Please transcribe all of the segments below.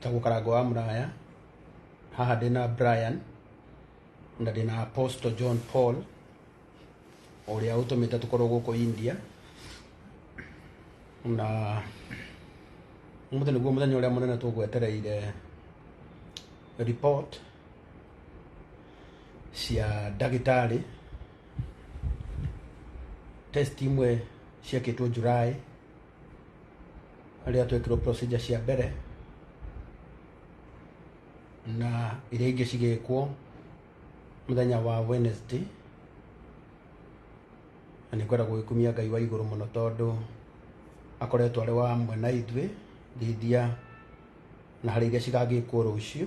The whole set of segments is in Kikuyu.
Tagwo karango wa muraya haha ndina Brian na ndina Apostle John Paul uria utumite tukorwo guku India na umuthi niguo muthenya uria munene tugwetereire report cia ndagitari test imwe ciekĩtwo July harĩa twekirwo procedure cia mbere na iria ingĩ cigĩkwo mũthenya wa Wednesday na nĩ kwenda gũgĩkumia Ngai wa igũrũ mũno tondũ akoretwo arĩ wa mwe na ithuĩ ngĩithia na harĩ iria cigagĩkwo rũciũ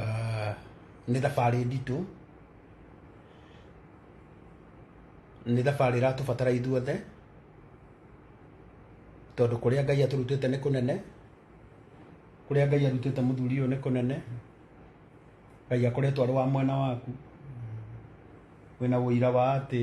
Ah, nĩ thabarĩ nditũ nĩ thabarĩ ĩratũbatara ithuothe tondũ kũrĩa ngai atũrutĩte nĩ kũnene kũrĩa ngai arutĩte mũthuri ũyũ nĩ kũnene ngai akoretwo arĩ wa mwena waku wĩna ũira wa atĩ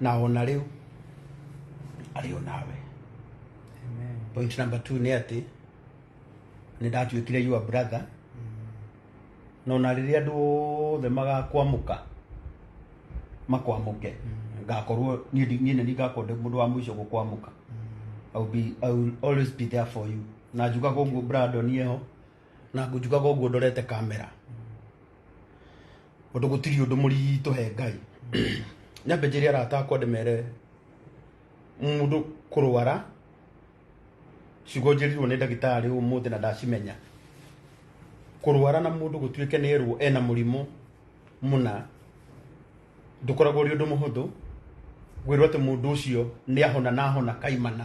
na ona rĩu arĩ o nawe Amen. point number two nĩ atĩ nĩ ndatuĩkire your brother na ona rĩrĩa andũ othe magakwamũka makwamũke ngakorwo niĩ ndi- niĩ nĩ ngakorwo ndĩ mũndũ wa mũico gũkwamũka I will be, I will always be there for you na njugaga ũguo Brandon eho na ngunjukaga ũguo ndorete kamera ũndũ gũtirĩ ũndũ mũritũ he ngai nyambe njĩre arata akwa ndĩmere mũndũ kũrwara ciugo njĩrirwo nĩ ndagĩtarĩ ũmũthĩ na ndacimenya kũrwara na mũndũ gũtuĩke nĩ erwo ena mũrimũ mũna ndũkoragwo ũrĩ ũndũ mũhũthũ gwĩrwo atĩ mũndũ ũcio nĩ ahona na ahona kaimana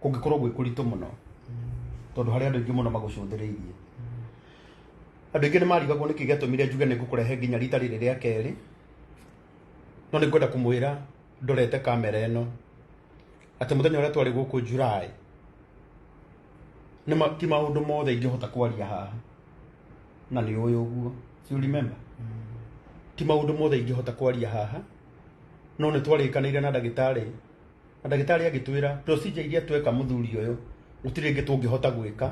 kũngĩkorwo gwĩ kũritũ mũno tondũ harĩ andũ aingĩ mũno magũcũthĩrĩirie andũ aingĩ nĩ marigagwo nĩkĩ gĩatũmire njuge nĩ ngũkũrehe nginya rita rĩrĩ rĩa kerĩ no nĩ ngwenda kũmwĩra ndorete kamera ĩno atĩ mũthenya ũrĩa twarĩ gũkũ July nĩ ma- ti maũndũ mothe ingĩhota kwaria haha na nĩ ũyũ ũguo Do you remember ti maũndũ mothe ingĩhota kwaria haha no nä twarĩkanĩire na ndagĩtarĩ na ndagĩtarĩ agĩtwĩra procedure iria tweka mũthuri ũyũ gũtirĩ ĩngĩ tũngĩhota gwĩka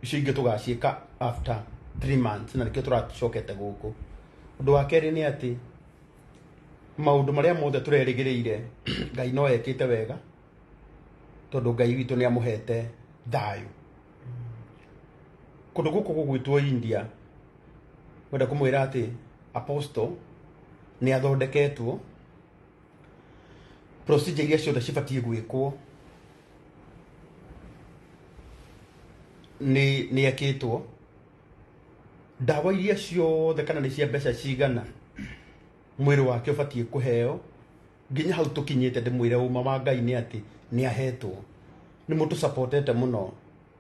icio ingĩ tũgaciĩka after 3 months na nĩkĩo tũracokete gũkũ ũndũ wa kerĩ nĩ atĩ maũndũ marĩa mothe tũrerĩgĩrĩire ngai no ekĩte wega tondũ ngai witũ nĩ amũhete thayũ kũndũ gũkũ gũgwĩtwo india kwenda kumwira ati apostle ni athondeketwo procedure iria ciothe cibatie gwikwo ni ni ekitwo ndawa iria ciothe kana ni cia mbeca cigana mwiri wake ubatie kuheo nginya hau tukinyite ndimwire uma wa ngai ni ati ni ahetwo ni mutu supportete muno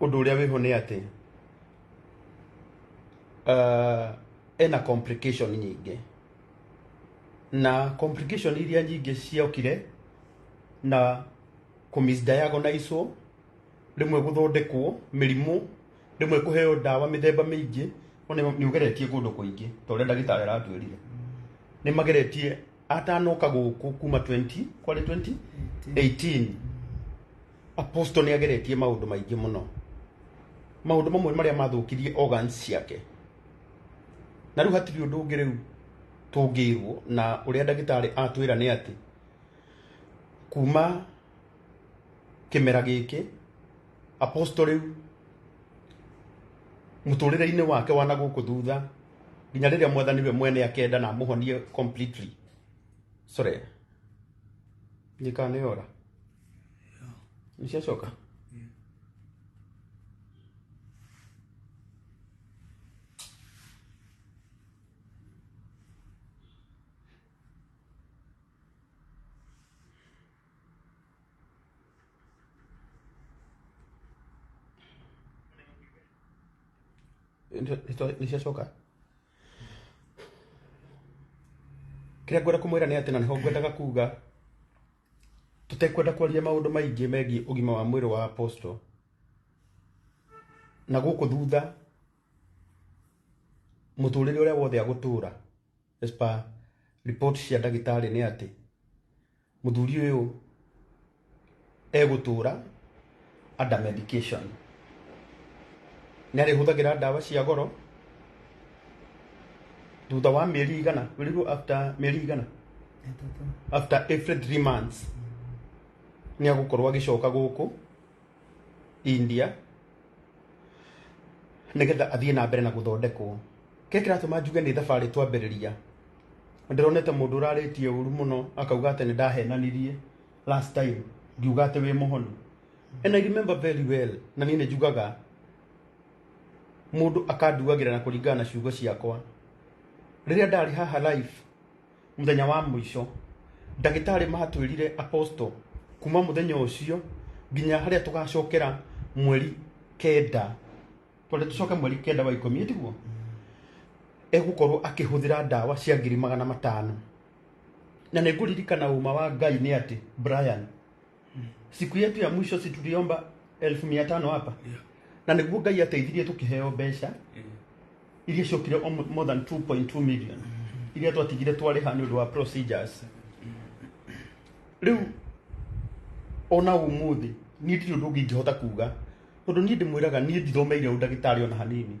Ũndũ ũrĩa wĩho nĩ atĩ uh, ena complication nyingĩ na complication iria nyingĩ ciokire na kũmisdiagonizwo rĩmwe gũthondekwo mĩrimũ rĩmwe kũheo ndawa mĩthemba mĩingĩ ona nĩ ũgeretie kũndũ kũingĩ ta ũrĩa ndagĩtarĩ aratwĩrire nĩ mageretie atanoka gũkũ kuma 20 kwarĩ 2018 Apostle nĩ ageretie maũndũ maingĩ mũno maũndũ mamwe marĩa mathũkirie organs ciake na rĩu hatirĩ ũndũ ũngĩ rĩu tũngĩirwo na ũrĩa ndagĩtarĩ atwĩra nĩ atĩ kuma kĩmera gĩkĩ apostle rĩu mũtũrĩre-inĩ wake wa na gũkũ thutha nginya rĩrĩa mwathani we mwene akenda na amũhonie completely sorry nĩkaneyora Nishachoka. Nito- nito- Nishachoka. Kĩrĩa ngwenda kũmwĩra nĩ atĩ na nĩho ngwendaga kuga tũtekwenda kwaria maũndũ maingĩ megiĩ ũgima wa mwĩrĩ wa apostle na gũkũ thutha mũtũrĩre ũrĩa wothe agũtũra as per report cia ndagĩtarĩ nĩ atĩ mũthuri ũyũ egũtũra under medication nĩ arĩhũthagĩra ndawa cia goro thutha wa mĩeri igana wĩrĩguo after mĩeri igana Ĩtatũ. after every three months nĩ agũkorwo agĩcoka gũkũ india nĩgetha athiĩ na mbere na gũthondekwo kĩrĩa kĩratũma njuge nĩ thabarĩ twambĩrĩria ndĩronete mũndũ ũrarĩtie ũru mũno akauga atĩ nĩ ndahenanirie last time ngiuga atĩ wĩ mũhonu and I remember very well na niĩ nĩ njugaga mũndũ akanduagĩra na kũringana na ciugo ciakwa rĩrĩa ndarĩ haha live mũthenya wa mũico ndagĩtarĩ matwĩrire apostle kuma mũthenya ũcio nginya harĩa tũgacokera mweri kenda twende tũcoke mweri kenda wa ikũmi tiguo egũkorwo akĩhũthĩra ndawa cia ngiri magana matano na nĩngũririkana uma wa ngai nĩ atĩ brian siku yetu ya mwisho si tuliomba elfu mia tano hapa Yeah. na nĩguo ngai ateithirie tũkĩheo mbeca Eh, iria ciokire o mo- more than 2.2 million iria twatigire twarĩha nĩ ũndũ wa procedures rĩu ona ũmũthĩ niĩ ndirĩ ũndũ ũngĩ ingĩhota kuga tondũ niĩ ndĩmwĩraga niĩ ndithomeire ũndagĩtarĩ ona hanini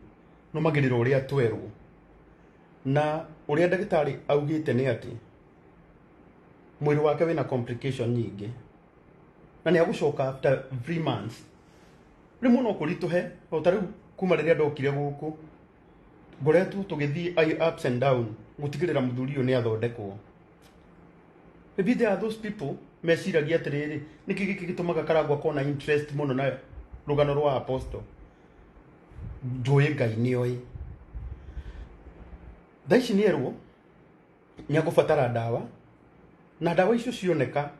nũmagĩrĩra ũrĩa twerwo na ũrĩa ndagĩtarĩ augĩte nĩ atĩ mwĩrĩ wake wĩna complication nyingĩ na nĩ agũcoka after three months rĩmwe no kũritũhe o ta rĩu kuma rĩrĩa ndokire gũkũ ngoretwo tũgĩthiĩ i- ups and down gũtigĩrĩra mũthuri ũyũ nĩ athondekwo maybe there are those people meciragia atĩrĩrĩ nĩkĩ gĩkĩ gĩtũmaga karangwa kona interest mũno na rũgano rwa apostle njũĩ ngai nĩ oĩ thaa ici nĩ erwo nĩ agũbatara ndawa na ndawa icio cioneka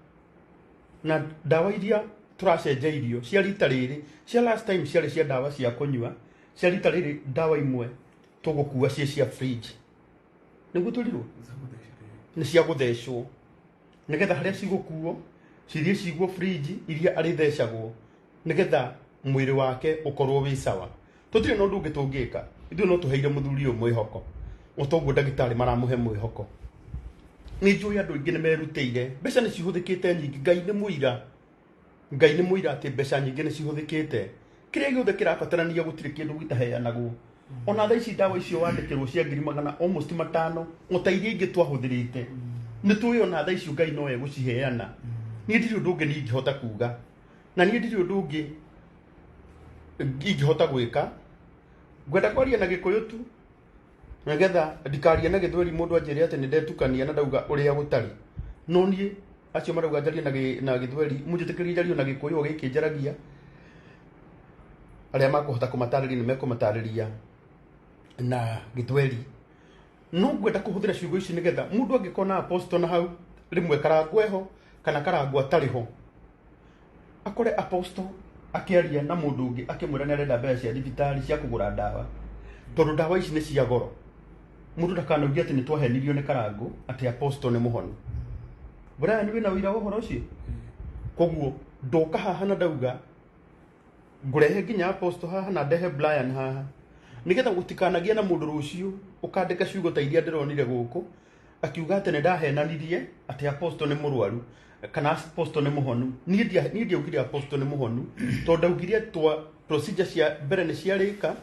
na ndawa iria tũracenjeirio cia rita rĩrĩ cia last time ciarĩ cia ndawa cia kũnyua cia rita rĩrĩ ndawa imwe tũgũkua ciĩ cia fridge nĩguo tũrirwo nĩ cia gũthecwo nĩgetha harĩa cigũkuo cithiĩ cigwo fridge iria arĩthecagwo nĩgetha mwĩrĩ wake ũkorwo wĩ sawa tũtirĩ na ũndũ ũngĩ tũngĩka ithuĩ no tũheire mũthuri ũyũ mwĩhoko o toguo ndagĩtarĩ maramũhe mwĩhoko nĩ njũĩ andũ aingĩ nĩ merutĩire mbeca nĩ cihũthĩkĩte nyingĩ ngai nĩ mũira ngai nĩ mũira atĩ mbeca nyingĩ nĩ cihũthĩkĩte kĩrĩa gĩothe kĩrabatarania gũtirĩ kĩndũ gĩtaheanagwo ona thaa ici ndawa icio wandĩkĩrwo cia ngiri magana almost matano ota iria ingĩ twahũthĩrĩte nĩ tũĩ ona thaa icio ngai no egũciheana niĩ ndirĩ ũndũ ũngĩ ningĩhota kuga na niĩ ndirĩ ũndũ ũngĩ ingĩhota gwĩka ngwenda kwaria na gĩkũyũ tu nĩgetha ndikarie na gĩthweri mũndũ anjĩre atĩ nĩ ndetukania na ndauga ũrĩa gũtarĩ no niĩ acio marauga njarie na gĩ- na gĩthweri mũnjĩtĩkĩrie njarie na gĩkũyũ o gĩkĩ njaragia arĩa makũhota kũmatarĩria nĩ mekũmatarĩria na gĩthweri no ngwenda kuhuthira ciugo ici nigetha mundu angikona apostle na hau rimwe karangwa eho kana karangwa atari ho akore apostle akiaria na mundu ungi akimwira ni arenda mbeca cia thibitari cia kugura ndawa tondu ndawa ici ni cia goro mundu ndakanaugie ati ni twahenirio ni karangu ati apostle ni muhoni Brian wina wira wa uhoro ucio koguo ndoka haha na ndauga ngũrehe nginya aposto haha na ndehe brian haha nigetha gũtikanagie na mũndũ rũciũ ũkandĩka ciugo ta iria ndĩronire gũkũ akiuga atĩ nĩ ndahenanirie atĩ aposto nĩ mũrwaru kana aposto nĩ mũhonu niĩ ndia- niĩ ndiaugire aposto nĩ mũhonu tondũ ndaugire twa procedure cia mbere nĩ ciarĩka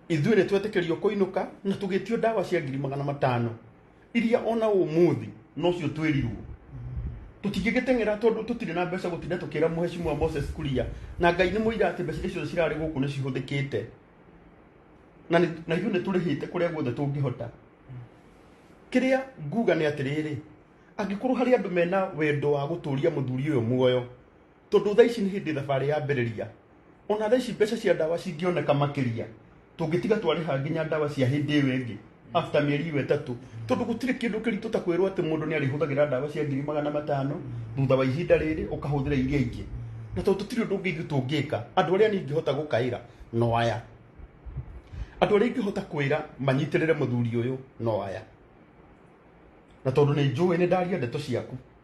ithuĩ nĩ twetĩkĩrio kũinũka na tũgĩtio ndawa cia ngiri magana matano iria ona umuthi nocio twirirwo tutingigiteng'era tondu tutire na mbeca gutinda tukira muheshimiwa Moses Kuria na ngai ni muira ati mbeca icio cirari guku ni cihuthikite na ni- na ithuĩ nĩ tũrĩhĩte kũrĩa guothe tũngĩhota kĩrĩa nguga nĩ atĩrĩrĩ angĩkorwo harĩ andũ mena wendo wa gũtũria mũthuri ũyũ muoyo tondå thaa ici nä hä ndä thabarä ya mbärä ona thaa ici mbeca cia ndawa cingioneka makĩria tũngĩtiga twarĩha nginya ndawa cia hĩndĩ ĩyo ĩngĩ after mĩeri ĩyo ĩtatũ tondũ gũtirĩ kĩndũ kĩritũ ta kwĩrwo atĩ mũndũ nĩ arĩhũthagĩra ndawa cia ngiri magana matano thutha wa ihinda rĩrĩ ũkahũthĩra iria ingĩ na tondũ tũtirĩ ũndũ ũngĩ ithuĩ tũngĩka andũ arĩa niĩ ingĩhota gũkaĩra no aya andũ arĩa ingĩhota kwĩra manyitĩrĩre mũthuri ũyũ no aya na tondũ nĩ njũĩ nĩ ndaria ndeto ciaku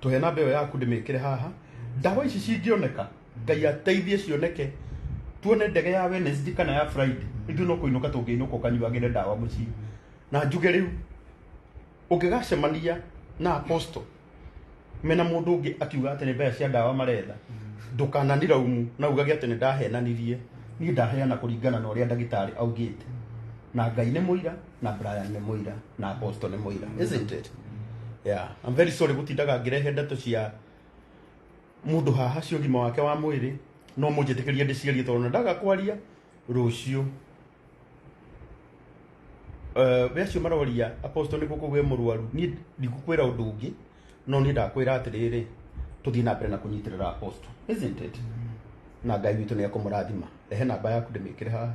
tũhe namba ĩyo yaku ndĩmĩkĩre haha ndawa ici cingĩoneka ngai ateithie cioneke tuone ndege ya Wednesday kana ya Friday ithuĩ no kũinũka tũngĩinũka ũkanyuagĩre ndawa mũciĩ na njuge rĩu ũngĩgacemania na apostle mena mũndũ ũngĩ akiuga atĩ nĩ mbeca cia ndawa maretha ndũkananĩra umu na ugage atĩ nĩ ndahenanirie niĩ ndaheana kũringana na ũrĩa ndagĩtarĩ augĩte na ngai nĩ mũira na Brian nĩ mũira na Apostle nĩ mũira isn't it yeah I'm very sorry gũtindaga ngĩrehe ndeto cia mũndũ haha cia ũgima wake wa mwĩrĩ no mũnjĩtĩkĩrie ndĩciarie tondũ ndaga kwaria rũciũ Eh, we acio maroria apostle nĩ gũkũ gwĩ mũrwaru niĩ ndigũkwĩra ũndũ ũngĩ no niĩ ndakwĩra atĩrĩrĩ tũthiĩ na mbere na kũnyitĩrĩra apostle isn't it na ngai witũ nĩ ekũmũrathima rehe namba yaku ndĩmĩkĩre haha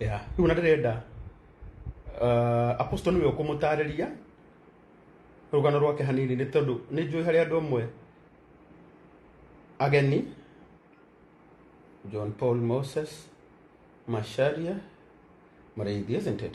ya rĩu na ndĩrenda uh, apostle nĩwe ũkũmũtarĩria rũgano rwake hanini nĩ tondũ nĩ njũĩ harĩ andũ amwe ageni john paul moses masharia maraithi isn't it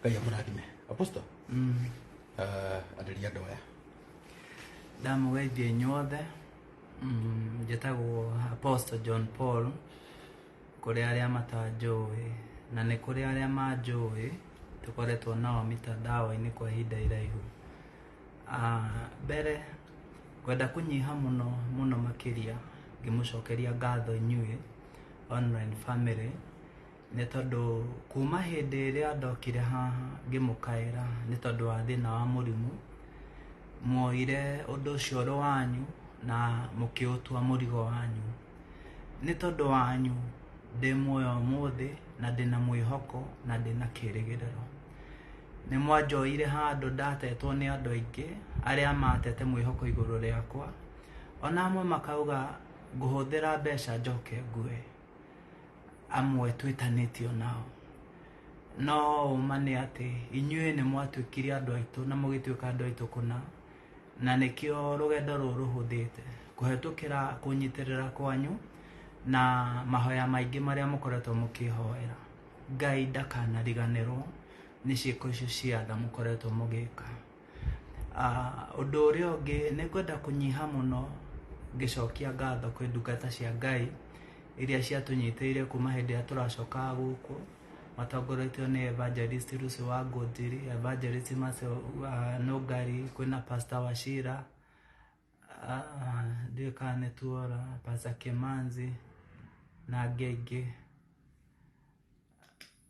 ngai amũrathime aposto arĩria andũ aya ndamũgeithia inyuothe Mm, njĩtagwo apostle john paul kũrĩ arĩa matanjũĩ na nĩ kũrĩ arĩa manjũĩ tũkoretwo nao mitandao-inĩ kwa ihinda iraihu Ah, mbere ngwenda kũnyiha mũno mũno makĩria ngĩmũcokeria ngatho inyuĩ online family nĩ tondũ kuma hĩndĩ ĩrĩa ndokire haha ngĩmũkaĩra nĩ tondũ wa thĩna wa mũrimũ mwoire ũndũ ũcio ũrĩ wanyu na mũkĩũtua mũrigo wanyu nĩ tondũ wanyu ndĩ muoyo ũmũthĩ na ndĩna mwĩhoko na ndĩna kĩrĩgĩrĩro nĩ mwanjoire handũ ndatetwo nĩ andũ aingĩ arĩa matete mwĩhoko igũrũ rĩakwa ona amwe makauga ngũhũthĩra mbeca njoke ngue amwe twĩtanĩtio nao no ũma nĩ atĩ inyuĩ nĩ mwatuĩkire andũ aitũ na mũgĩtuĩka andũ aitũ kũna na nĩkĩo rũgendo rũrũ rũhũthĩte kũhetũkĩra kũnyitĩrĩra kwanyu na mahoya maingĩ marĩa mũkoretwo mũkĩhoera ngai ndakanariganĩrwo nĩ ciĩko icio cia tha mũkoretwo mũgĩka Ah, ũndũ ũrĩa ũngĩ nĩ kwenda kũnyiha mũno ngĩcokia ngatho kwĩ ndungata cia ngai iria ciatũnyitĩire kuma hĩndĩ ĩrĩa tũracokaga gũkũ matongoretio nĩ evangelist rusi wa ngũnjiri evangelist Macio wa nũngari kwĩna pastor wacira Ah, ndiũĩ kana nĩ tuora pastor kĩmanzi na angĩ aingĩ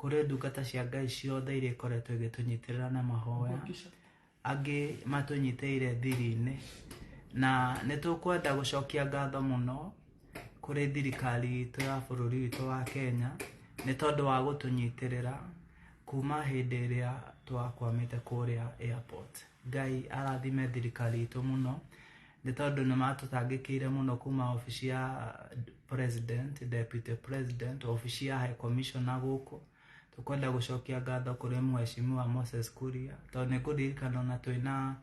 kũrĩ ndungata cia ngai ciothe iria ikoretwo igĩtũnyitĩrĩra na mahoya angĩ matũnyitĩire thiri-inĩ na nĩ tũkwenda gũcokia ngatho mũno kũrĩ thirikari itũ ya bũrũri witũ wa kenya nĩ tondũ wa gũtũnyitĩrĩra kuma hĩndĩ ĩrĩa twakwamĩte kũrĩa airport ngai arathime thirikari itũ mũno nĩ tondũ nĩ matũtangĩkĩire mũno kuma obici ya president, deputy president, obici ya high commissioner gũkũ tũkwenda gũcokia ngatho kũrĩ mheshimiwa Moses Kuria tondũ nĩ ngũririkana ona twĩna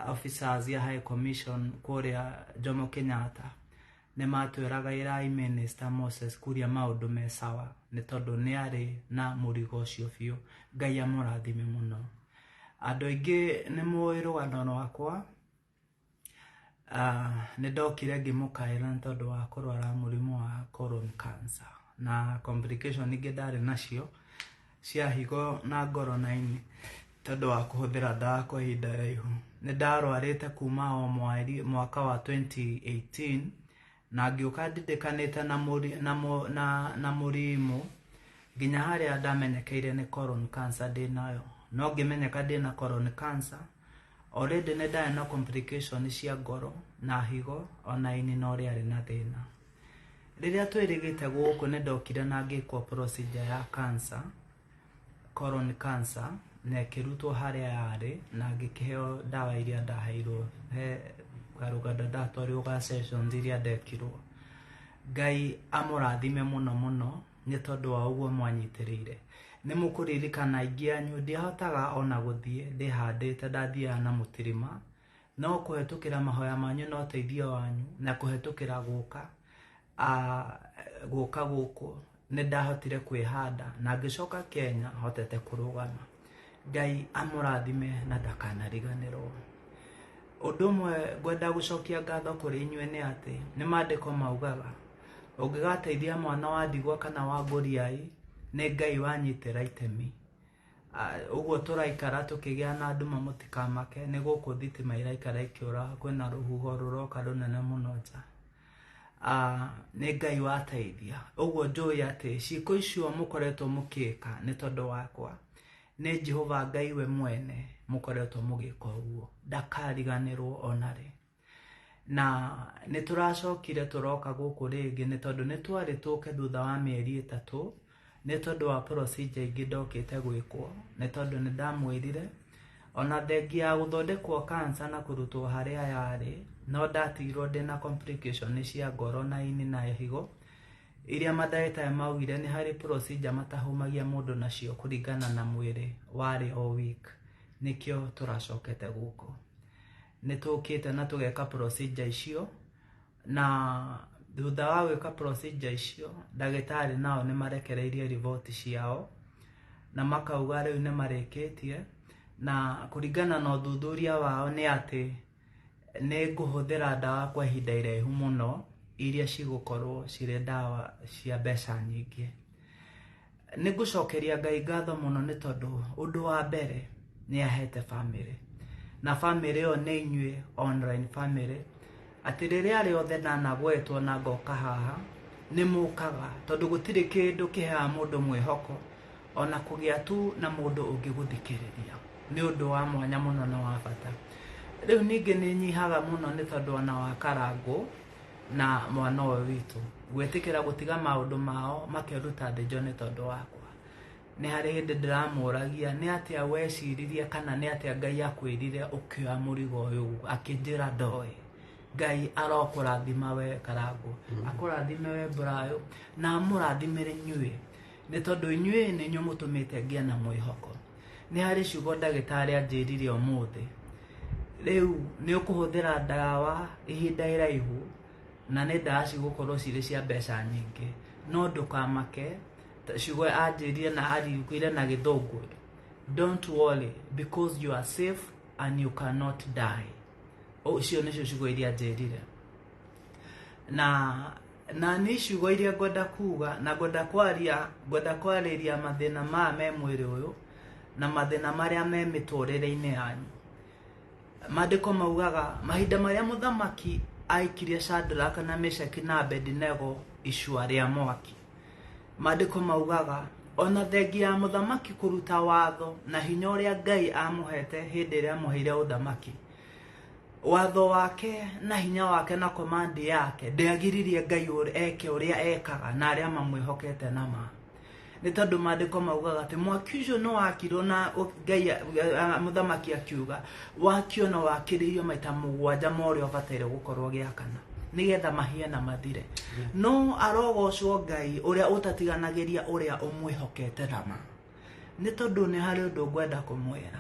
officers ya high commission kũrĩa Jomo Kenyatta nĩ matwĩraga ĩrai minister Moses Kuria maũndũ me sawa nĩ tondũ nĩ arĩ na mũrigo ũcio biũ Ngai amũrathime mũno andũ aingĩ nĩ mũĩ rũgano rwakwa Ah, nĩ ndokire ngĩmũkaĩra nĩ tondũ wa kũrwara mũrimũ wa colon cancer na complication ingĩ ndarĩ nacio cia higo na ngoro na ini tondũ wa kũhũthĩra ndawa kwa ihinda raihu nĩ ndarwarĩte kuma o mweri mwaka wa 2018 na ngĩũka ndindĩkanĩte na mũri- na mũ- na- na mũrimũ nginya harĩa ndamenyekeire nĩ colon cancer ndĩ nayo no ngĩmenyeka ndĩ na colon cancer Already nĩ ndarĩ na complication cia ngoro na higo ona ini no rĩarĩ na thĩna. Rĩrĩa twĩrĩgĩte gũkũ nĩ ndokire na ngĩkwo procedure ya cancer, colon cancer na ĩkĩrutwo harĩa yarĩ na ngĩkĩheo ndawa iria ndaheirwo he karũganda ndatwarirwo ga sessions iria ndekirwo. Ngai amũrathime mũno mũno nĩ tondũ wa ũguo mwanyitĩrĩire nĩ mũkũririkana aingĩ anyu ndiahotaga ona gũthiĩ ndĩhandĩte ndathiaga na mũtirima no kũhetũkĩra mahoya manyu na ũteithio wanyu na kũhetũkĩra gũka ah, gũka gũkũ nĩ ndahotire kwĩhanda na ngĩcoka kenya hotete kũrũgama Ngai amũrathime na ndakanariganĩrwo. Ũndũ ũmwe ngwenda gũcokia ngatho kũrĩ inyuĩ nĩ atĩ nĩ maandĩko maugaga ũngĩgateithia mwana wa ndigwa kana wa ngũriai nĩ Ngai wanyitĩra itemi. Ah, Ũguo tũraikara tũkĩgĩa na nduma mũtikamake nĩ gũkũ thitima iraikara ikĩũra kwĩna rũhuho rũroka rũnene mũno nja. Ah, nĩ ngai wateithia ũguo njũĩ atĩ ciĩko icio mũkoretwo mũkĩka nĩ tondũ wakwa nĩ jehova ngai we mwene mũkoretwo mũgĩka ũguo ndakariganĩrwo onarĩ na nĩ tũracokire tũroka gũkũ rĩngĩ nĩ tondũ nĩ twarĩ tũke thutha wa mĩeri ĩtatũ Nĩ tondũ wa procedure ingĩ ndokĩte gwĩkwo nĩ tondũ nĩ ndamwĩrire ona thengia ya gũthondekwo cancer na kũrutwo harĩa yarĩ no ndatigirwo ndĩna complication cia ngoro na ini na higo iria mandagĩtarĩ maugire nĩ harĩ procedure matahũmagia mũndũ nacio kũringana na mwĩrĩ warĩ o weak nĩkĩo tũracokete gũkũ. Nĩ tũkĩte na tũgeka procedure icio na thutha wa gwĩka procedure icio ndagĩtarĩ nao nĩ marekereirie riboti ciao na makauga rĩu nĩ marĩkĩtie na kũringana na ũthuthuria wao nĩ atĩ nĩ ngũhũthĩra ndawa kwa ihinda iraihu mũno iria cigũkorwo cirĩ ndawa cia mbeca nyingĩ nĩ ngũcokeria ngai ngatho mũno nĩ tondũ ũndũ wa mbere nĩ ahete bamĩrĩ na bamĩrĩ ĩyo nĩ inyuĩ online bamĩrĩ atĩ rĩrĩa rĩothe ndanagwetwo na ngoka haha nĩ mũkaga tondũ gũtirĩ kĩndũ kĩheaga mũndũ mwĩhoko ona kũgĩa tu na mũndũ ũngĩgũthikĩrĩria nĩ ũndũ wa mwanya mũno na wa bata rĩu ningĩ nĩ nyihaga mũno nĩ tondũ ona wa karangũ na mwana ũyũ witũ gwĩtĩkĩra gũtiga maũndũ mao makeruta thĩ njone tondũ wakwa nĩ harĩ hĩndĩ ndĩramũragia nĩ atĩa weciririe kana nĩ atĩa ngai akwĩrire ũkĩoya mũrigo ũyũ akĩnjĩra ndoĩ ngai arokũrathima we karangũ akũrathime we mburayũ na amũrathimĩre inyuĩ nĩ tondũ inyuĩ nĩ inyuĩ mũtũmĩte ngĩa na mwĩhoko nĩ harĩ ciugo ndagĩtarĩ anjĩrire ũmũthĩ rĩu nĩ ũkũhũthĩra ndawa ihinda iraihu na nĩ ndawa cigũkorwo cirĩ cia mbeca nyingĩ no ndũkamake ta- ciugo anjĩrire na aririkĩire na gĩthũngũ don't worry because you are safe and you cannot die ũcio nĩcio ciugo iria anjĩrire na na nĩ ciugo iria ngwenda kuga na ngwenda kwaria ngwenda kwarĩria mathĩna maya me mwĩrĩ ũyũ na mathĩna marĩa me mĩtũrĩre-inĩ yanyu maandĩko maugaga mahinda marĩa mũthamaki aikirie Shadraka na Meshaki na Abedinego icua rĩa mwaki maandĩko maugaga ona thengi ya mũthamaki kũruta watho na hinya ũrĩa Ngai amũhete hĩndĩ ĩrĩa amũheire ũthamaki watho wake na hinya wake na komandi yake ndĩagiririe ngai ũr- eke ũrĩa ekaga na arĩa mamwĩhokete na ma nĩ tondũ maandĩko maugaga atĩ mwaki ũcio nĩ wakirwo na ũ- ngai a- a- mũthamaki akiuga wakio na wakĩrĩirio maita mũgwanja ma ũrĩa ũbataire gũkorwo gĩakana nĩgetha mahie na mathire no arogocwo ngai ũrĩa ũtatiganagĩria ũrĩa ũmwĩhokete na ma nĩ tondũ nĩ harĩ ũndũ ngwenda kũmwĩra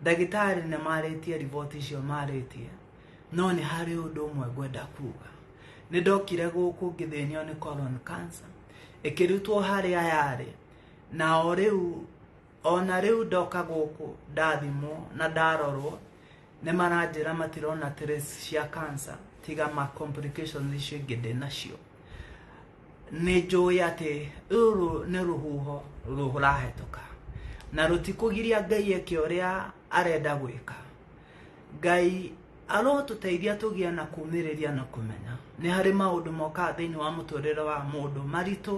ndagĩtarĩ nĩ marĩtie riboti icio marĩtie no nĩ harĩ ũndũ ũmwe ngwenda kuga nĩ ndokire gũkũ ngĩthĩnio nĩ colon cancer ĩkĩrutwo harĩa yarĩ na o rĩu ona rĩu ndoka gũkũ ndathimwo na ndarorwo nĩ maranjĩra matirona trace cia cancer tiga ma complications icio ingĩ ndĩ nacio nĩ njũĩ atĩ rũrũ nĩ rũhuho rũrahĩtũka na rũtikũgiria ngai eke ũrĩa arenda gwĩka ngai arotũteithia tũgĩe na kumĩrĩria na kũmenya nĩ harĩ maũndũ mokaga thĩinĩ wa mũtũrĩre wa mũndũ maritũ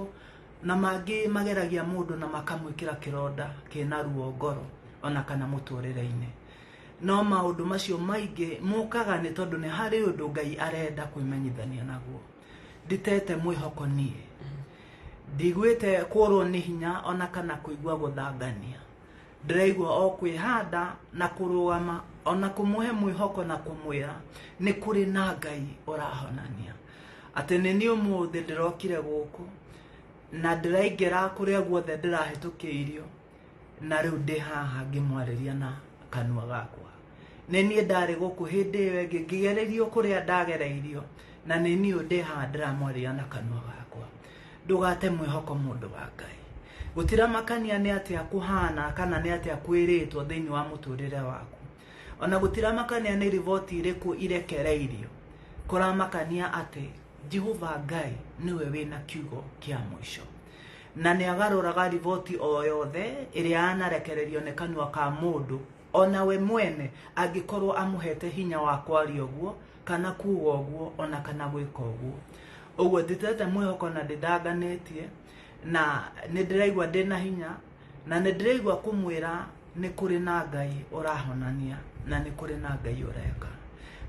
na mangĩ mageragia mũndũ na makamwĩkĩra kĩronda kĩna ruo ngoro ona kana mũtũrĩre-inĩ no maũndũ macio maingĩ mũkaga nĩ tondũ nĩ harĩ ũndũ ngai arenda kwĩmenyithania naguo nditete mwĩhoko niĩ ndigwĩte kũrwo nĩ hinya ona kana kũigua gũthangania ndĩraigua o kwĩhanda na kũrũgama ona kũmũhe mwĩhoko na kũmwĩra nĩ kũrĩ na ngai ũrahonania atĩ nĩ niĩ ũmũthĩ ndĩrokire gũkũ na ndĩraingĩra kũrĩa guothe ndĩrahĩtũkĩirio na rĩu ndĩ haha ngĩmwarĩria na kanua gakwa nĩ niĩ ndarĩ gũkũ hĩndĩ ĩyo ĩngĩ ngĩgererio kũrĩa ndagereirio na nĩ niĩ ũyũ ndĩ haha ndĩramwarĩria na kanua gakwa ndũgate mwĩhoko mũndũ wa ngai gũtiramakania nĩ atĩa kũhana kana nĩ atĩa kwĩrĩtwo thĩinĩ wa mũtũrĩre waku ona gũtiramakania nĩ riboti irĩkũ irekereirio kũramakania atĩ jehova ngai nĩwe wĩna kiugo kĩa mũico na nĩ agarũraga riboti o yothe ĩrĩa yanarekererio nĩ kanua ka mũndũ o na we mwene angĩkorwo amũhete hinya wa kwaria ũguo kana kuga ũguo o na kana gwĩka ũguo ũguo ndĩtete mwĩhoko na ndĩndanganĩtie na nĩ ndĩraigua ndĩ na hinya na nĩ ndĩraigua kũmwĩra nĩ kũrĩ na ngai ũrahonania na nĩ kũrĩ na ngai ũreka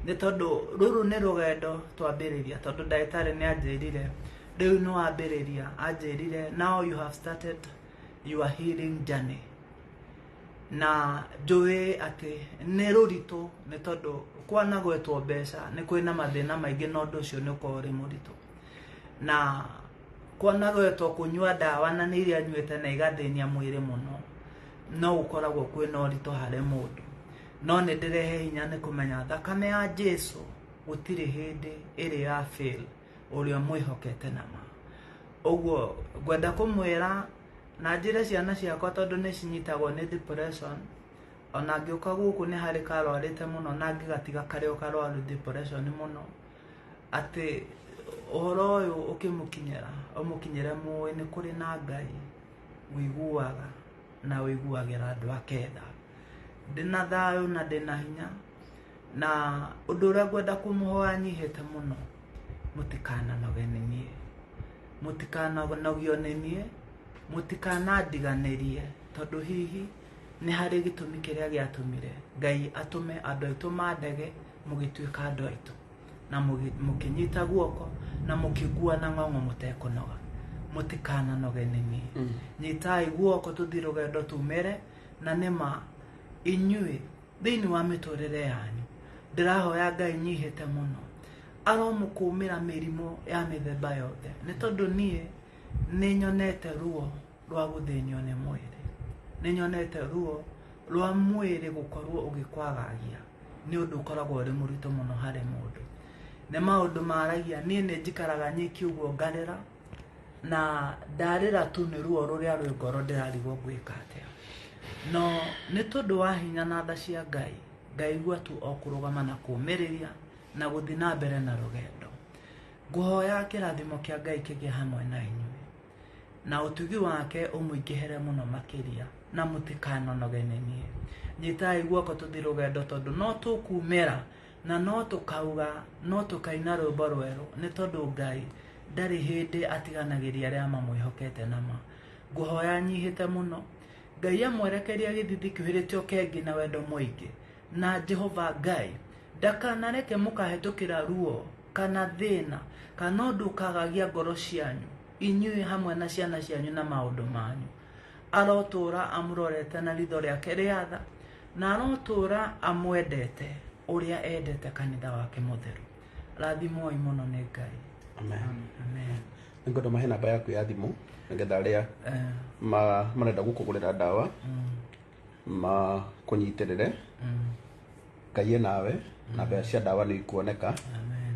nĩ tondũ rũrũ nĩ rũgendo twambĩrĩria tondũ ndagĩtarĩ nĩ anjĩrire rĩu nĩ wambĩrĩria anjĩrire now you have started your healing journey na njũĩ atĩ nĩ rũritũ nĩ tondũ kwanagwetwo mbeca nĩ kwĩ na mathĩna maingĩ na ũndũ ũcio nĩ ũkoragwo ũrĩ mũritũ na kwanagwetwo kũnyua ndawa na nĩ iria nyuĩte na igathĩnia mwĩrĩ mũno no gũkoragwo kwĩ na ũritũ harĩ mũndũ no nĩ ndĩrehe hinya nĩ kũmenya thakame ya jesu gũtirĩ hĩndĩ ĩrĩ ya fail ũrĩa mwĩhokete na ma ũguo ngwenda kũmwĩra na njĩre ciana ciakwa tondũ nĩ cinyitagwo nĩ depression ona ngĩũka gũkũ nĩ harĩ karwarĩte mũno na ngĩgatiga karĩ o karwaru depression mũno atĩ ũhoro ũyũ ũkĩmũkinyĩra ũmũkinyĩre mũĩ nĩ kũrĩ na ngai wĩiguaga na wĩiguagĩra andũ aketha ndĩna thayũ na ndĩna hinya na ũndũ ũrĩa ngwenda kũmũhoya nyihĩte mũno mũtikananoge nĩ niĩ mũtikananogio nĩ niĩ mũtikanandiganĩrie tondũ hihi nĩ harĩ gĩtũmi kĩrĩa gĩatũmire ngai atũme andũ aitũ mandege mũgĩtuĩka andũ aitũ na mũgĩ- mũkĩnyita guoko na mũkĩngua na ng'ong'o mũtekũnoga mũtikananoge nĩ niĩ nyitai guoko tũthiĩ rũgendo tumĩre na nĩma inyuĩ thĩinĩ wa mĩtũrĩre yanyu ndĩrahoya ngai nyihĩte mũno aromũkũmĩra mĩrimũ ya mĩthemba yothe nĩ tondũ niĩ nĩ nyonete ruo rwa gũthĩnio nĩ mwĩrĩ nĩ nyonete ruo rwa mwĩrĩ gũkorwo ũgĩkwagagia nĩ ũndũ ũkoragwo ũrĩ mũritũ mũno harĩ mũndũ nĩ maũndũ maragia niĩ nĩ njikaraga nyiki ũguo ngarĩra na ndarĩra tu nĩ ruo rũrĩa rwĩ ngoro ndĩrarigwo ngwĩka atĩa no nĩ tondũ wa hinya na tha cia ngai ngaigua tu o kũrũgama na kũmĩrĩria na gũthiĩ na mbere na rũgendo ngũhoya kĩrathimo kĩa ngai kĩgĩe hamwe na inyuĩ na ũtugi wake ũmũingĩhere mũno makĩria na mũtikanonoge nĩ niĩ nyitai guoko tũthiĩ rũgendo tondũ no tũkumĩra Na no tũkauga, no tũkaina rwĩmbo rwerũ, nĩ tondũ Ngai ndarĩ hĩndĩ atiganagĩria arĩa mamwĩhokete na ma. Ngũhoya nyihĩte mũno. Ngai amwerekeria gĩthithi kĩũhĩrĩte ũkengi na wendo mũingĩ. Na Jehova Ngai ndakanareke mũkahĩtũkĩra ruo kana thĩna kana ũndũ ũkagagia ngoro cianyu inyuĩ hamwe na ciana cianyu na maũndũ manyu. arotũũra amũrorete na ritho rĩake rĩa tha na arotũũra amwendete ũrĩa endete kanitha wake mũtheru rathimoi mũno nĩ ngai Amen. amen Nĩ ngwenda mahe namba yaku ya thimũ nĩgetha arĩa Eh, ma- marenda gũkũgũrĩra ndawa mm, makũnyitĩrĩre mm, ngai e nawe na mbeca cia ndawa nĩ ikuoneka amen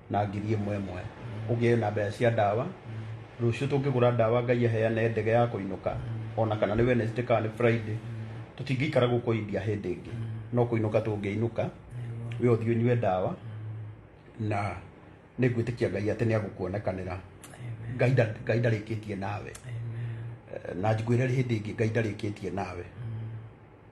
na ngiri ĩmwe ĩmwe ũgĩe na mbeca cia ndawa rũciũ tũngĩgũra ndawa ngai aheane ndege ya kũinũka ona kana nĩ wednesday kana nĩ friday tũtingĩikara gũkũ india hĩndĩ ĩngĩ no kũinũka tũngĩinũka we ũthiĩ ũnyue ndawa na nĩ ngwĩtĩkia ngai atĩ nĩ agũkuonekanĩra ngai nda- ngai ndarĩkĩtie nawe Eh, na njiguĩre hĩndĩ ĩngĩ ngai ndarĩkĩtie nawe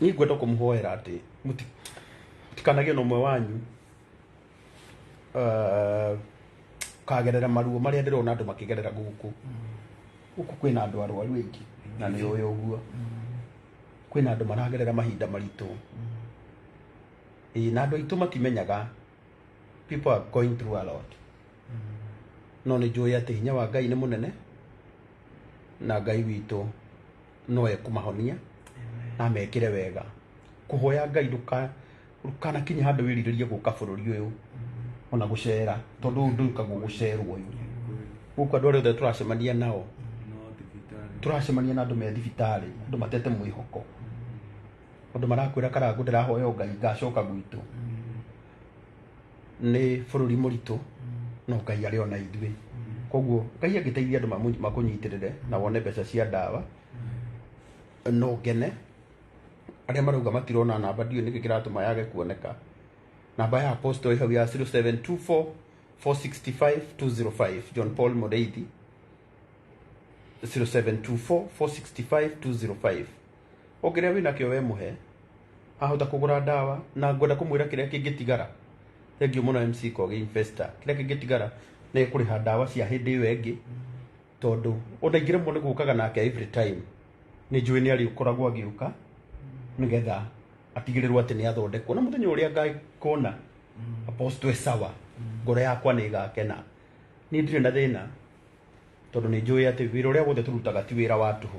Niĩ ngwenda kũmũhoera atĩ mũti- mũtikanagĩe na ũmwe wanyu eh, kagerera maruo marĩa ndĩrona andũ makĩgerera gũkũ gũkũ kwĩna andũ arwaru aingĩ na nĩ ũyũ ũguo kwĩna andũ maragerera mahinda maritũ Ĩĩ, na andũ aitũ matimenyaga people are going through a lot no nĩ njũĩ atĩ hinya wa ngai nĩ mũnene na ngai witũ no ekũmahonia na amekĩre wega kũhoya ngai ndũka- ndũkanakinye handũ wĩrirĩrie gũka bũrũri ũyũ ona gũcera tondũ ũyũ ndũikagwo gũcerwo ũyũ gũkũ andũ arĩa othe tũracemania nao no thibitarĩ turacemania na andå me thibitarä andå matete mwä hoko andå marakwä ra karangå ndärahoya ngai ngacoka gwitå nĩ bũrũri mũritũ no ngai arĩ ona ithuĩ koguo ngai angĩteithia andũ mamũ- makũnyitĩrĩre na wone mbeca cia ndawa no ngene arĩa marauga matirona namba ndiũ nĩkĩ kĩratũma yage kuoneka namba ya posto ĩ hau ya 0724 465 205 john paul mũrĩithi 0724 465 205 o kĩrĩa wĩ nakĩo we mũhe ahota kũgũra ndawa na ngwenda kũmwĩra kĩrĩa kĩngĩtigara thengiũ mũno MC Kogi Investor kĩrĩa kĩngĩtigara nĩ kũrĩha ndawa cia hĩndĩ ĩyo ĩngĩ tondũ ona ingĩremwo nĩ gũkaga nake every time nĩ njũĩ nĩ arĩkoragwo agĩũka nĩgetha atigĩrĩrwo atĩ nĩ athondekwo na mũthenya ũrĩa ngakona apostle e sawa ngoro yakwa nĩ ĩgakena niĩ ndirĩ na thĩna tondũ nĩ njũĩ atĩ wĩra ũrĩa wothe tũrutaga ti wĩra wa tũhũ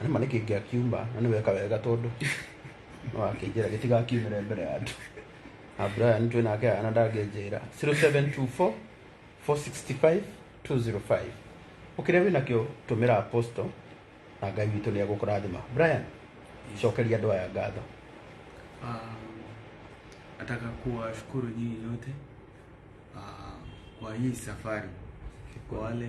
Na nĩ ma nĩkĩ ngĩakiuma na nĩ weka wega tondũ no akĩnjĩra gĩtigakiumĩre mbere ya andũ na Brian twĩ nake ana ndangĩnjĩra 0724 465 205 ũkĩrĩa wĩ nakĩo tũmĩra apostle na ngai witũ nĩ egũkũrathima Brian cokeria andũ aya ngatho Ah, nataka kuwashukuru nyinyi nyote ah, kwa hii safari kwa wale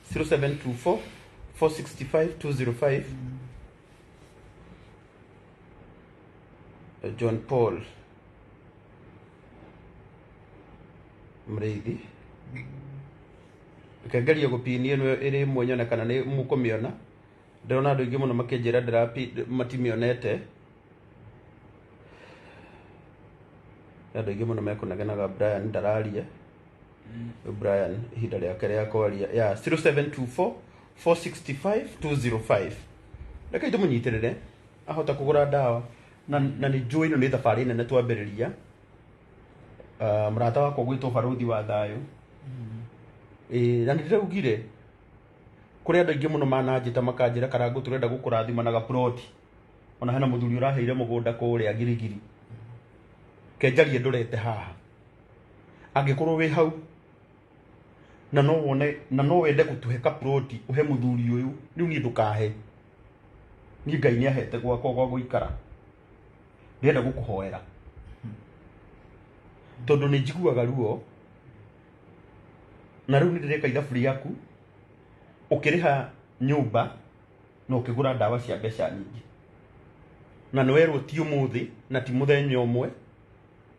0724 465 205 John Paul mrĩithi reke ngerie gũpinia ĩno ĩrĩ ĩmwe nyone kana nĩ mũkũmĩona ndĩrona andũ aingĩ mũno makĩnjĩra ndĩrapi- matimĩonete andå aingä må no mekånegenaga brian ndararia brian ihinda rĩake rĩa kwaria ya 0724 465 205 reke tũmũnyitĩrĩre ahota kũgũra ndawa na na nĩ njũĩ ĩno nĩ thabarĩ nene twambĩrĩria Ah, mũrata wakwa gwĩtwo barũthi wa thayũ Ĩĩ, na nĩ ndĩraugire kũrĩ andũ aingĩ mũno mananjĩta makanjĩra karangũ tũrenda gũkũrathima na gaburoti ona hena mũthuri ũraheire mũgũnda kũrĩa girigiri kenjarie ndũrete haha angĩkorwo wĩ hau na no wone na no wende gũtũhe kaburoti ũhe mũthuri ũyũ rĩu niĩ ndũkahe niĩ ngai nĩ ahete gwakwa gwa gũikara ndĩrenda gũkũhoera tondũ nĩ njiguaga ruo na rĩu nĩ ndĩreka ithabu rĩaku ũkĩrĩha nyũmba na ũkĩgũra ndawa cia mbeca nyingĩ na nĩ werwo ti ũmũthĩ na ti mũthenya ũmwe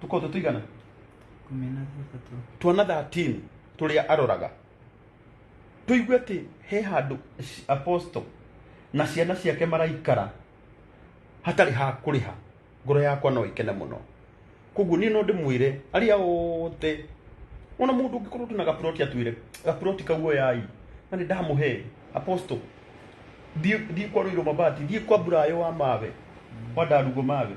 tuko tutigana kumi na thatatũ tuona 13 tũrĩa aroraga tũigue atĩ he handũ ci- apostle na ciana ciake maraikara hatarĩ ha kũrĩha ngoro yakwa no ĩkene mũno koguo niĩ no ndĩmwĩre arĩa othe ona mũndũ ũngĩkorwo twĩna gaburoti atwĩre gaburoti kaguo yai na nĩ ndamũhe apostle thiĩ thiĩ kwa rũirũ mabati thiĩ kwa mburayo wa mawe wa ndarugo mawe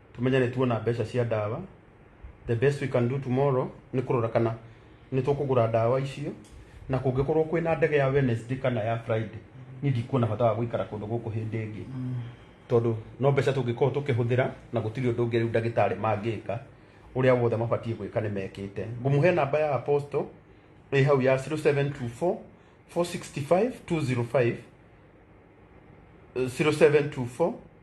tumenye nĩ tuona mbeca cia ndawa the best we can do tomorrow nĩ kũrora kana nĩ tũkũgũra ndawa icio na kũngĩkorwo kwĩna ndege ya Wednesday kana ya Friday niĩ ndikuona bata wa gũikara kũndũ gũkũ hĩndĩ ĩngĩ tondũ no mbeca tũngĩkorwo tũkĩhũthĩra na gũtirĩ ũndũ ũngĩ rĩu ndagĩtarĩ mangĩka ũrĩa wothe mabatiĩ gwĩka nĩ mekĩte ngũmũhe namba ya apostle ĩ hau ya 0724 465 205 0724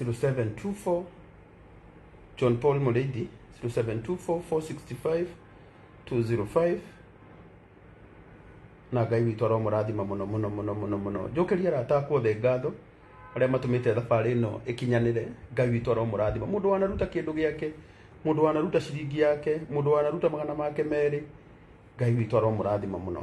0724 John Paul Muledi 0724 465 205 na ngai witũ aromũrathima mũno mũno mũno mũno mũno njũkĩria arata akwa othe ngatho arĩa matũmĩte thabarĩ ĩno ĩkinyanĩre ngai witũ aromũrathima mũndũ wanaruta kĩndũ gĩake mũndũ wanaruta ciringi yake mũndũ wanaruta magana make merĩ ngai witũ aromũrathima mũno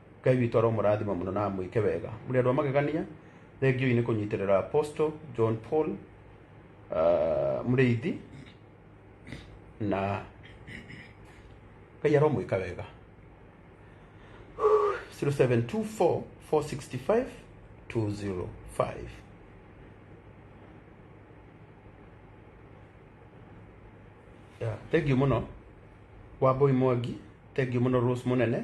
ngai witũ aromũrathima mũno na amwĩke wega mũrĩ andũ a magegania thengiũi nĩ kũnyitĩrĩra apostle john paul uh, mũrĩithi na ngai aromwĩka wega 0724 465 205 Yeah, thengiũ mũno wamboi mwangi thengiũ mũno rose mũnene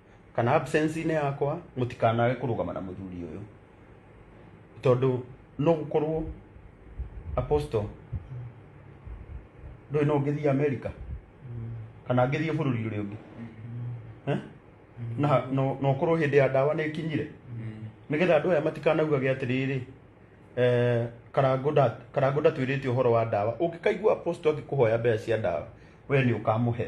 kana absence-inĩ yakwa mũtikanage kũrũgama na mũthuri ũyũ tondũ no gũkorwo apostle ndũĩ no ngĩthiĩ america kana ngĩthiĩ bũrũri ũrĩa ũngĩ Eh? na no no ũkorwo hĩndĩ ya ndawa nĩ ĩkinyire nĩgetha andũ aya matikanaugage atĩrĩrĩ eh, karango nda- karango ndatwĩrĩte ũhoro wa ndawa ũngĩkaigua apostle akĩkũhoya mbeca cia ndawa we nĩ ũkamũhe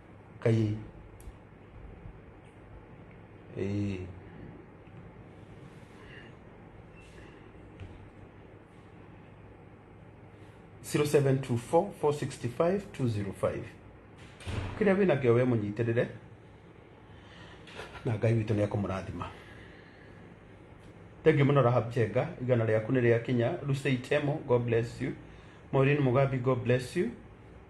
kai eh zero seven two four four sixty five two zero five kĩrĩa wĩna kĩo we mũnyitĩrĩre na ngai witũ nĩ ekũmũrathima thengiũ mũno rahab njenga igana rĩaku nĩ rĩa kinya rusei temo god bless you maureen mugambi god bless you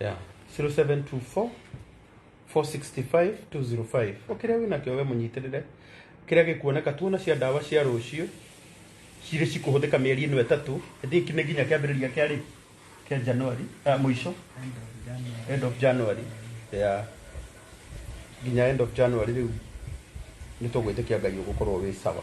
yeah 0724 465 205 ũkĩrĩa wĩna kĩo we mũnyitĩrĩre kĩrĩa gĩkuoneka tuona cia ndawa cia rũciũ cirĩ cikũhũthĩka mĩeri ĩno ĩtatũ ĩndĩ nĩ nginya kĩambĩrĩria kĩa rĩ kĩa januari ah, mũico end of january yeah. nginya end of january rĩu nĩ tũgwĩtĩkia ngai ũgũkorwo wĩ sawa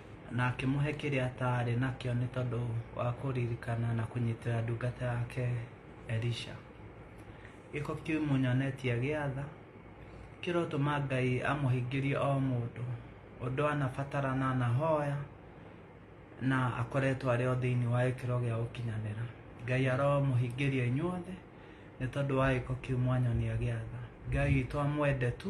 na akĩmũhe kĩrĩa ataarĩ nakĩo nĩ tondũ wa kũririkana na kũnyitĩra ndungata yake Elisha. Gĩko kĩu mũnyonetie gĩatha kĩrotũma Ngai amũhingĩrie o mũndũ ũndũ anabatara na anahoya na akoretwo arĩ o thĩinĩ wa gĩkĩro gĩa gũkinyanĩra. Ngai aromũhingĩria inyuothe nĩ tondũ wa gĩko kĩu mwanyonia gĩatha. Ngai witũ amwende tu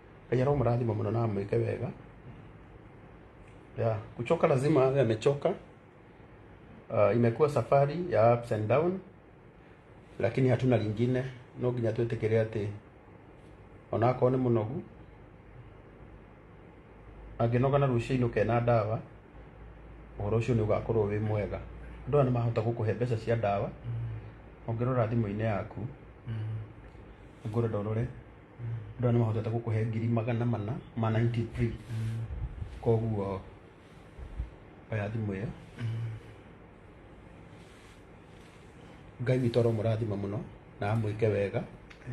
Ngai aromũrathima mũno na amwĩke wega yeah. Kuchoka lazima awe amechoka. Uh, imekuwa safari ya ups and down, lakini hatuna lingine, no nginya twĩtĩkĩre atĩ onakorwo nĩ mũnogu angĩnoga na rũciinĩ ũkena ndawa ũhoro ũcio nĩ ũgakorwo wĩ mwega andũ aya nĩ mahota gũkũhe mbeca cia ndawa ũngĩrora thimũ-inĩ yaku ngũrenda ũrore andũ aya nĩ mahotete gũkũhe ngiri magana mana ma 93 koguo oya thimũ ĩyo ngai witũ aromũrathima mũno na amwĩke wega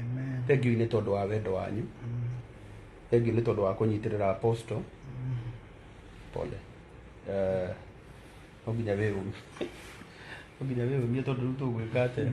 Amen. thengiũ nĩ tondũ wa wendo wanyu Mm. thengiũ nĩ tondũ wa kũnyitĩrĩra apostle pole Eh, no nginya wĩyũmie no nginya wĩyũmie tondũ rĩu tũgwĩka atĩa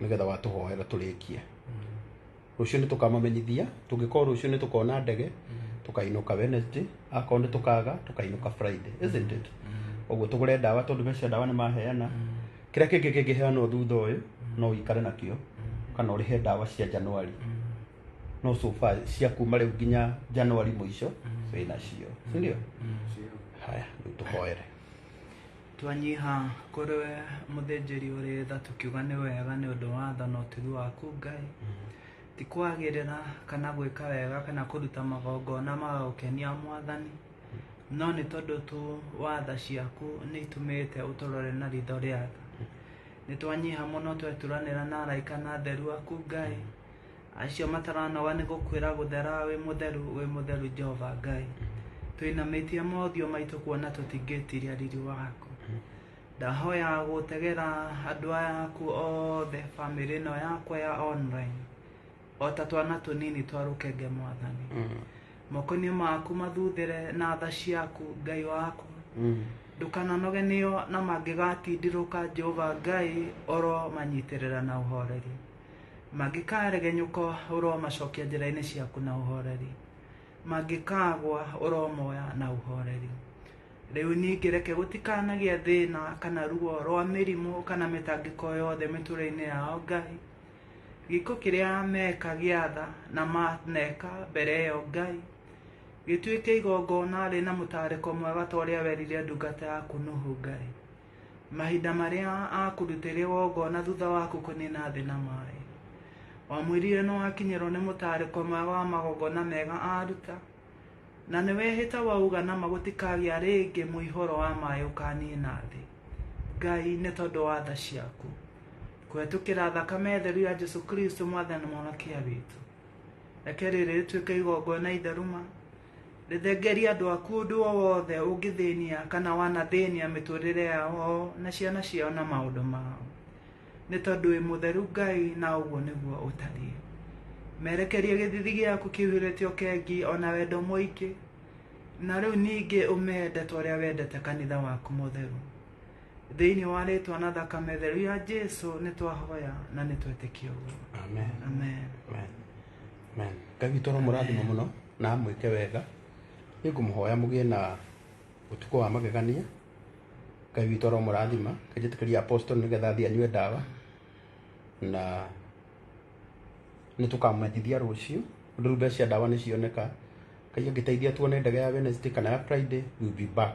nĩgetha watũhoera tũrĩkie rũciũ nĩ tũkamamenyithia tũngĩkorwo rũciũ nĩ tũkona ndege tũkainũka wednesday akorwo nĩ tũkaga tũkainũka friday isn't it ũguo tũgũre ndawa tondũ mecia ndawa nĩ maheana kĩrĩa kĩngĩ kĩngĩheanwo thutha ũyũ no ũikare nakĩo kana ũrĩhe ndawa cia januari no so far cia kuma rĩu nginya januari mũico wĩnacio sindio haya rĩu tũhoere Twanyiha kũrĩ we mũthĩnjĩri ũrĩ tha tũkiuga nĩ wega nĩ ũndũ wa tha na ũtugi waku Ngai. Ti kwagĩrĩra kana gwĩka wega kana kũruta magongona ma gũkenia Mwathani, no nĩ tondũ tu wa tha ciaku nĩ itũmĩte ũtũrore na ritho rĩa tha. Nĩ twanyiha mũno tweturanĩra na araika na atheru aku Ngai, acio mataranoga nĩ gũkwĩra gũthera wĩ mũtheru wĩ mũtheru jehova ngai twĩnamĩtie mothiũ maitũ kuona tũtingĩtiria riri waku ndahoya gũtegera andũ aya aku othe bamĩrĩ ĩno yakwa ya online o ta twana tũnini twa rũkenge mwathani moko-inĩ maku mathuthĩre na tha ciaku ngai waku ndũkananoge nĩo na mangĩgatindirũka jehova ngai oro manyitĩrĩra na ũhoreri mangĩkaregenyũka ũromacokia njĩra-inĩ ciaku na ũhoreri mangĩkagwa ũromoya na ũhoreri rĩu ningĩ reke gũtikanagĩa thĩna kana ruo rwa mĩrimũ kana mĩtangĩko yothe mĩtũrĩ-inĩ yao ngai gĩko kĩrĩa meka gĩatha na maneka mbere ĩyo ngai gĩtuĩke igongona rĩ na mũtarĩko mwega ta ũrĩa werire ndungata yaku nuhu ngai Mahinda marĩa akũrutĩire wongona thutha waku kũnina thĩ na maĩ. Wamwĩrire nĩ wakinyĩrwo nĩ mũtarĩko mwega wa magongona mega aruta, na nĩ wehĩta wauga nama gũtikagĩa rĩngĩ mũihoro wa maĩ ũkanina thĩ. Ngai, nĩ tondũ wa tha ciaku, kũhetũkĩra thakame theru ya Jesu Kristo Mwathani na Mũhonokia witũ, reke rĩrĩ rĩtuĩke igongona itheru ma, Rĩthengeria andũ aku ũndũ o wothe ũngĩthĩnia kana wanathĩnia mĩtũrĩre yao na ciana ciao na maũndũ mao, nĩ tondũ wĩ mũtheru Ngai na ũguo nĩguo ũtariĩ. Merekerie gĩthithi gĩaku kĩihũrĩte ũkengi o na wendo mũingĩ, na rĩu ningĩ ũmende ta ũrĩa wendete kanitha waku mũtheru. Thĩinĩ wa rĩtwa na thakame theru ya Jesu nĩ twahoya na nĩ twetĩkia ũguo. Amen. Amen. Amen. Amen. Ngai witũ aromũrathima mũno. na mwĩke wega nĩ ngũmũhoya mũgĩe na ũtukũ wa magegania ngai witũ aromũrathima kanjĩtĩkĩria apostle nĩgetha athiĩ anyue ndawa na nĩ tũkamwendithia rũciũ rĩu mbeca cia ndawa nĩ cioneka ngai angĩteithia tuone ndege ya wednesday kana ya friday we'll be back